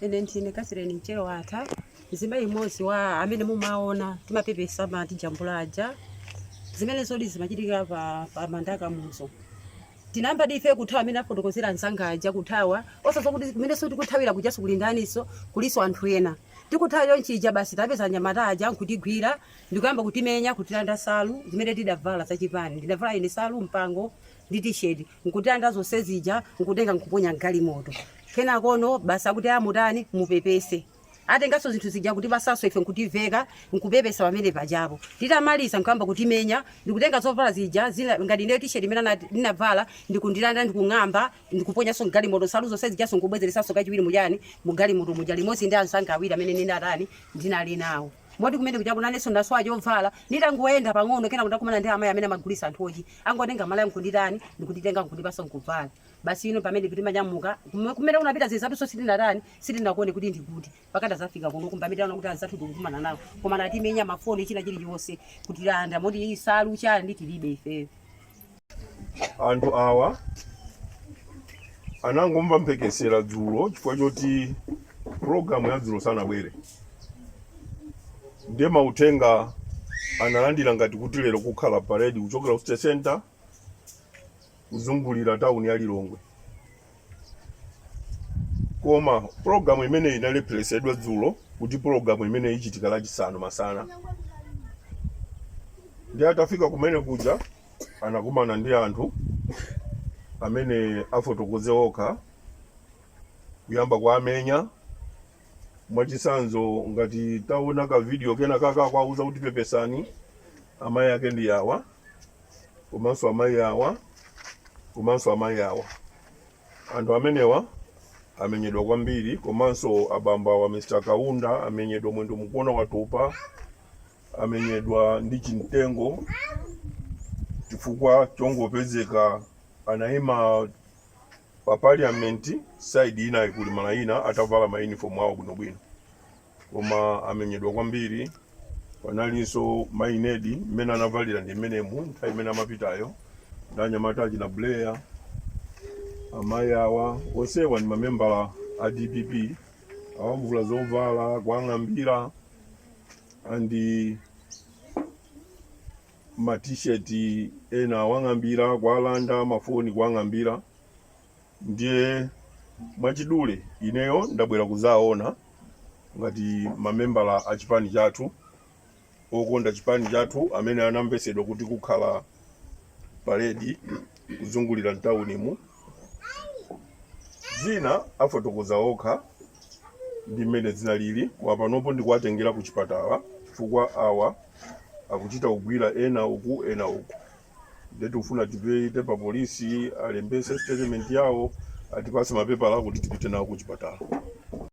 Ine ndine Catherine Mchero Watha, mzimayi mmodzi wa amene mumaona timapepesa amatijambula aja. Zimenezodi zimachitika pa, pa manda a Kamuzu tinayamba ndife kuthawa amene afotokozera anzanga aja kuthawa osadziwa kuti kumeneso tikuthawira kujaso kuli ndaniso kuliso anthu ena tikuthawa chonchija basi tapeza anyamata aja nkutigwira ndikuyamba kutimenya kutilanda salu zimene tidavala zachipani ndidavala ine salu mpango ndi t-shirt nkutilanda zonse zija nkutenga nkuponya mgalimoto kenakono basi akuti amutani mupepese atenganso zinthu zija kutipasaso ife nkutiveka nkupepesa pamene pajapo titamaliza nkuyamba kutimenya ndikutenga zovala zija zina ngati ndiyo t-shirt imene ana- ndinavala ndikundilanda ndikung'amba ndikuponyanso mgalimoto nsalu zonse zijanso nkubwezeresanso kachiwiri mujani mugalimoto muja limodzi ndi anzanga awiri amene ndinatani ndinali nawo Moti kumene kujaku nanenso ndasowa chovala. Nditangoyenda pang'ono kenako ndakumana ndi amayi amene amagulitsa nthochi. Angotenga malaya n'kunditani, n'kunditenga n'kundipatsa n'kuvala. Basi ine pamenepo timanyamuka. Kume- Kumene kunapita azinzathunso sitinatani, sitinakuone kuti ndi kuti. Mpaka tazafika kunoku mpamene taona kuti anzathu tikukumana nawo. Koma anatimenya mafoni china chilichonse kutilanda moti nsalu chani tilibe ifeyo. anthu awa anangomva mphekesera dzulo chifukwa choti pulogalamu ya dzulo sanabwere ndiye mauthenga analandira ngati kuti lero kukhala paredi kuchokera ku city center kuzungulira tawuni ya lilongwe koma pulogalamu imeneyi inalepheresedwa dzulo kuti pulogalamu imeneyi ichitika lachisanu masana ndiye atafika kumene kuja anakumana ndi anthu amene afotokoze okha kuyamba kuwamenya mwachisanzo ngati taona ka video kena kake kuwauza kuti pepesani amayi ake ndi awa komanso amayi awa komanso amayi awa anthu amenewa amenyedwa kwambiri komanso abambo awa mr kaunda amenyedwa mwendo mukuona watupa amenyedwa ndi chimtengo chifukwa chongopezeka anayima pa parliament side inayi kuli malayina atavala ma uniform awo bwinobwino koma amenyedwa kwambiri panalinso mayi nedi mmene anavalira ndi mmenemu nthawi imene amapitayo ndi anyamata achina blair amayi awa onsewa ndi mamembala a dpp awamvula zovala kuwang'ambira and ma t-shirt ena awang'ambira kuwalanda mafoni kuwang'ambira ndiye mwachidule ineyo ndabwera kuzaona ngati mamembala a chipani chathu okonda chipani chathu amene anamvesedwa kuti kukhala paredi kuzungulira mtaunimu Zina afotokoza okha ndi mmene zinalili, koma panopo ndikuwatengera kuchipatala chifukwa awa akuchita kugwira ena uku ena uku nde tikufuna tipite pa polisi alembetse statement yawo atipatse mapepala kuti tipite nawo kuchipatala.